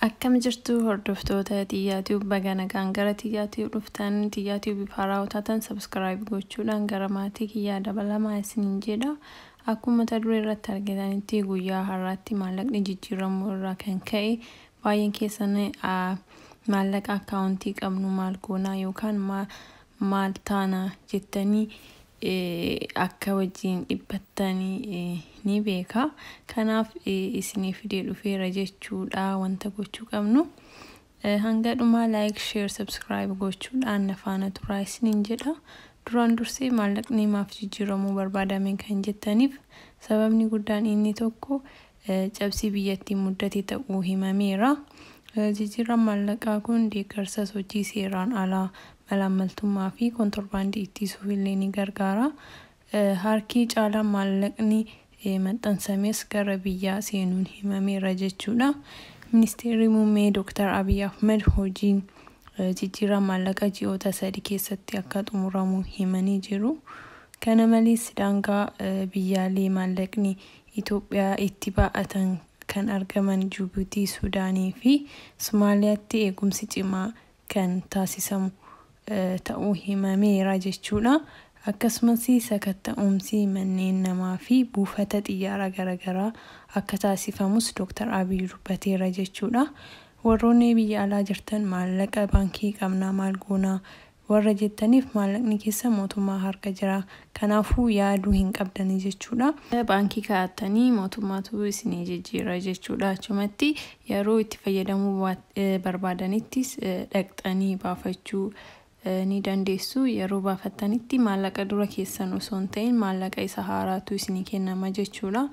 Akkam jirtu hordoftoota Tiyyaa Tube baga nagaan gara Tiyyaa Tube dhuftan Tiyyaa Tube haaraa hojjatan subscribe gochuudhaan gara maatii kiyyaa dabalamaa isiniin jedha. Akkuma mata duree irratti argitanitti guyyaa har'aatti maallaqni jijjiiramuu irraa kan ka'e baay'een keessan maallaqa akkaawuntii qabnu maal goonaa yookaan maal taana jettanii akka wajjiin dhiphattan ni beeka. Kanaaf isinii fidee dhufeera jechuudha wanta gochuu qabnu. Hanga dhumaa like, share, subscribe gochuudhaan na faana turaa isiniin jedha. Duraan dursee maallaqni maaf jijjiiramuu barbaadame kan jettaniif sababni guddaan inni tokko cabsii biyyattii muddate ta'uu himameera. Jijjiirraan maallaqaa kun deeggarsa sochii seeraan alaa, malaammaltummaa fi kontorbaandii ittisuuf illee ni gargaara. Harki caalaan maallaqni maxxansames gara biyyaa seenuun himameera jechuudha. Ministeerri Muummee Dooktar Abiy Ahmad hojiin jijjiirraa maallaqa ji'oota sadi keessatti akka xumuramu himanii jiru. Kana malees daangaa biyyaalee maallaqni Itoophiyaa itti baay'atan kan argaman Jibuutii, Sudaanii fi Somaaliyaatti eegumsi cimaa kan taasisamu ta'uu himameera jechuudha. Akkasumas sakatta'umsi manneen namaa fi buufata xiyyaaraa garagaraa akka taasifamus Dooktar Abiy dubbateera jechuudha. Warroonni biyya alaa jirtan maallaqa baankii qabnaa maal goonaa warra jettaniif maallaqni keessan mootummaa harka jira. Kanaafuu yaaduu hin qabdani jechuudha. Baankii kaa'attanii mootummaatu isinii jijjiira jechuudha. Achumatti yeroo itti fayyadamuu barbaadanittis dhaqxanii baafachuu ni dandeessu. Yeroo baafattanitti maallaqa dura keessan osoo hin ta'in maallaqa isa haaraatu isinii kennama jechuudha.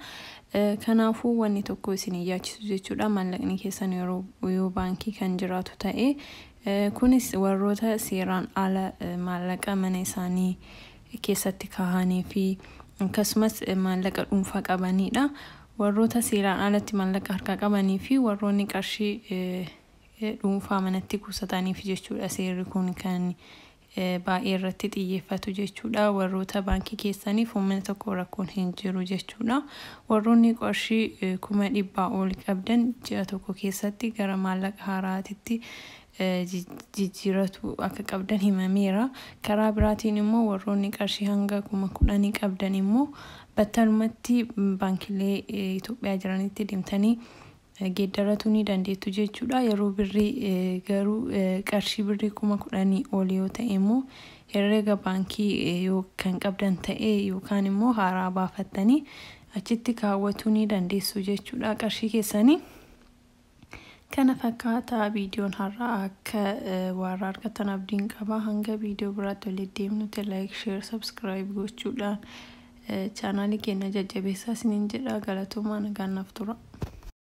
Kanaafuu wanni tokko isin hin yaachisu jechuudha. Maallaqni keessan yeroo yoo baankii kan jiraatu ta'e Kunis warroota seeraan ala maallaqa mana isaanii keessatti kaahanii fi akkasumas maallaqa dhuunfaa qabanii dha. Warroota seeraan alatti maallaqa harkaa qabanii fi warroonni qarshii dhuunfaa manatti kuusataniif jechuu dha seerri kun kan baay'ee irratti xiyyeeffatu jechuudha. Warroota baankii keessaniif uummata tokko rakkoon hin jiru jechuudha. Warroonni qarshii kuma dhibbaa ol qabdan ji'a tokko keessatti gara maallaqa haaraatitti jijjiiratu akka qabdan himameera. Karaa biraatiin immoo warroonni qarshii hanga kuma kudhanii qabdan immoo battalumatti baankilee Itoophiyaa jiranitti deemtanii geeddaratuu ni dandeettu jechuudha. Yeroo birrii garuu qarshii birrii kuma kudhanii ol yoo ta'e immoo herreega baankii yoo kan qabdan ta'e yookaan immoo haaraa baafattanii achitti kaawwatuu ni dandeessu jechuudha qarshii keessanii. Kana fakkaataa viidiyoon har'aa akka waarra argattan abdiin qaba. Hanga viidiyoo biraatti walitti deemnutti like, share, subscribe gochuudhaan chaanaalii keenya jajjabeessaa isiniin jedha galatoomaa nagaan naaf tura.